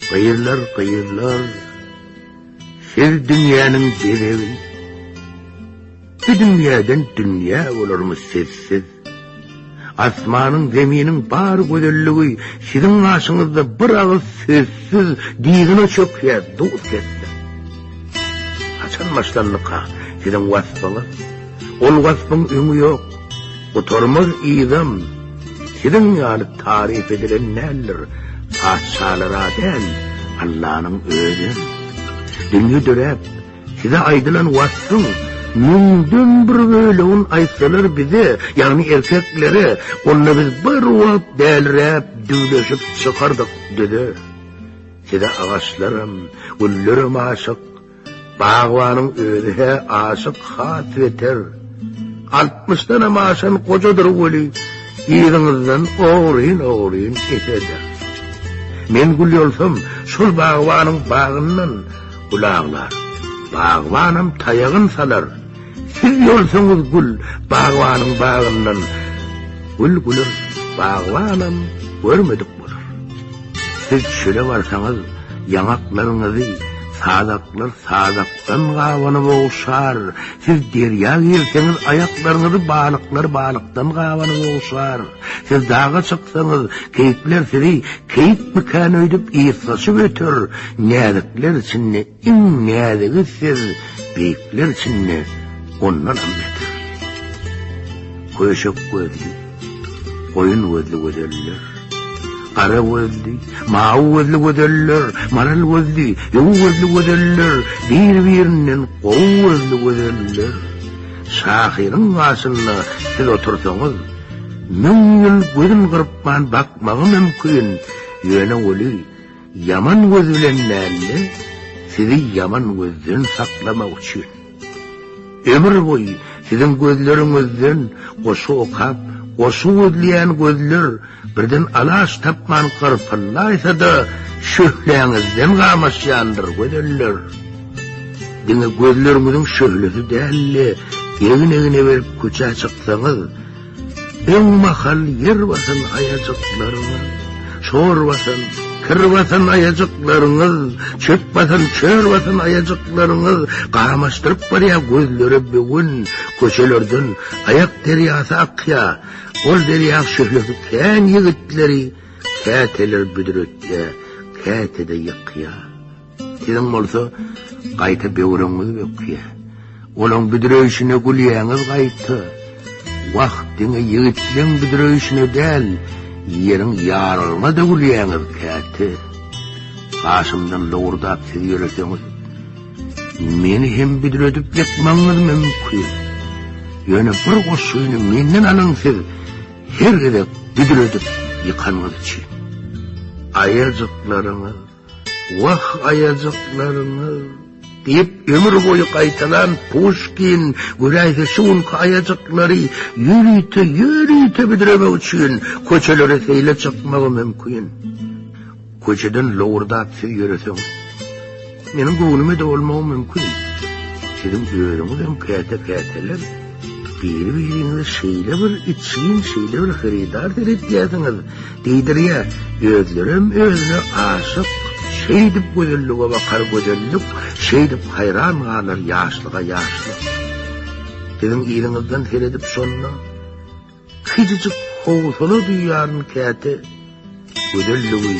Gyýylar, gyýylar, siz dünýäniň bezegi. Bu dünýäden dünýä bolarmy sizsiz? Asmanyň, zeminiň bar gözelligi siziň aşyňyzda bir agyz sözsüz diýgine çökýär, dur kesdi. Haçan başlandyka siziň wasbyňyz? Ol waspyň öňi ýok, gutarmaz yzam, Siziň ýaly taryp edilen däldir, Patyşalara däl, Allanyň özem. Dünýe döräp, size aýdylan waspyň Müňden bir bölegin aýtsalar bize, Ýagny erkeklere, onda biz bir wagt Dälräp, düwleşip çykardyk düze. Size agaçlaram, güllerem aşyk, Bagbanyň özi-hä aşyk has beter. Altmyşdanam aşan gojadyr weli, yzyňyzdan ogryn-ogryn eserler. Men gül bolsam, şol bagbanyň bagyndan gül aglar. Bagbanam taýagyn salar. Siz ýolsaňyz gül bagbanyň bagyndan gül güler, bagbanam görmedik bolar. Siz çöle barsaňyz ýaňaklaryňyzy sazaklar sazakdan gabanyp ogşar, siz derýa girseňiz aýaklaryňyzy balyklar balykdan gabanyp ogşar, siz daga çyksaňyz keýikler sizi keýik bikäni öýdüp ýyrtgaşyp öter, näzikler içinde Iň näzigi siz beýikler içinde ondanam beter. Köşek gözli, goýun gözli gözeller. Gara gözli, mawy gözli gözeller, maral gözli, ýow gözli gözeller, bir-birinden gowy gözli gözeller. Şahyryň gaşynda siz otursaňyz, müň ýyl gözüm gyrpman bakmagy mümkin, ýöne weli, Ýaman göz bilen mälle sizi ýaman gözden saklamak üçin. Ömür boýy siziň gözleriňizden goşgy okap, goşgy gözleýän gözler birden alaç tapman gyrpyldaýsa-da, şöhläňizden gamaşýandyr, gözeller. Diňe gözleriňiziň şöhlesi däl-de, egin-egine berip köçä çyksaňyz, Öň mahal ýer basan aýajyklaryňyz, şor basan, kir basan aýajyklaryňyz, çöp basan, çöl basan aýajyklaryňyz gamaşdyryp barýar gözleri böwen köçelerden aýak derýasy akýar. Ol derýa şöhlesi kän ýigitleri käteler büdretýär, käte-de ýykýar. Siziň bolsa gaýta böwrüňiz bökýär. Olaň büdreýşine gülýäňiz gaýta. Wah, diňe ýigitleň büdreýşine däl, ýeriň ýarylgyna-da gülýäňiz käte. Gaşymdan lowurdap siz ýöreseňiz, meni hem büdredip ýykmagyňyz mümkin. Ýöne bir goşgyny menden alyň siz, her gezek büdredip ýykanyňyz üçin. Aýajyklaryňyz Wah, aýajyklaryňyz! diýip, ömür boýy gaýtalan Puşkin, göräýse, şu günki aýajyklary ýörite-ýörite büdremek üçin köçelere seýle çykmagy mümkin. Köçeden lowurdap siz ýöreseň, meniň göwnüme-de bolmagy mümkin. Siziň özüňizem käte-käteler biri-biriňize şeýle bir içgin, şeýle bir hyrydar seretýärsiňiz, Diýdirýär, özlerem özüne aşyk, Şeýdip gözellige bakar gözellik, Şeýdip haýran galar ýaşlyga ýaşlyk. Siziň yzyňyzdan seredip şonda, Kiçijik howsala duýýaryn käte, Gözelligi,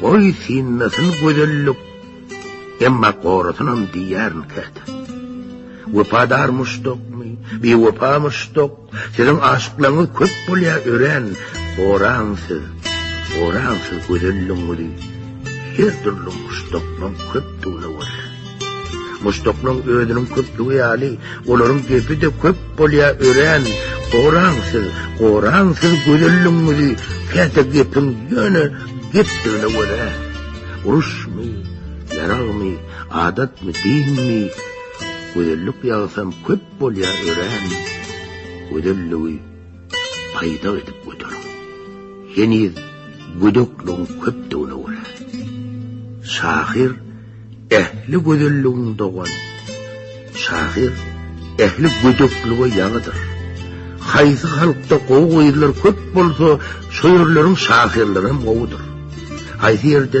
goý synlasyn gözellik, Emma gorasynam diýýärin käte. Wepadar muşdakmy, biwepa muşdak, Siziň aşyklaryňyz köp bolýa örän oran siz oran siz gözelligiňizi her dürli muşdaklaryň köpdügine görä muşdaklaryň özüniň köpdügi ýaly olaryň gepi de köp bolýa örän oran siz oran siz gözelligiňizi käte gepiň ýöne gepdigine görä uruşmy ýaragmy adatmy dinmi gözellik ýagsam köp Bolýar örän gözelligi paýda edip göteriň. Heniz gödekligiň köpdügine görä, şahyr ähli gözelligiň dogan, şahyr ähli gödeklige ýaňydyr. Haýsy halkda gowy gyzlar köp bolsa, şo ýerleriň şahyrlary hem gowudyr. Haýsy ýerde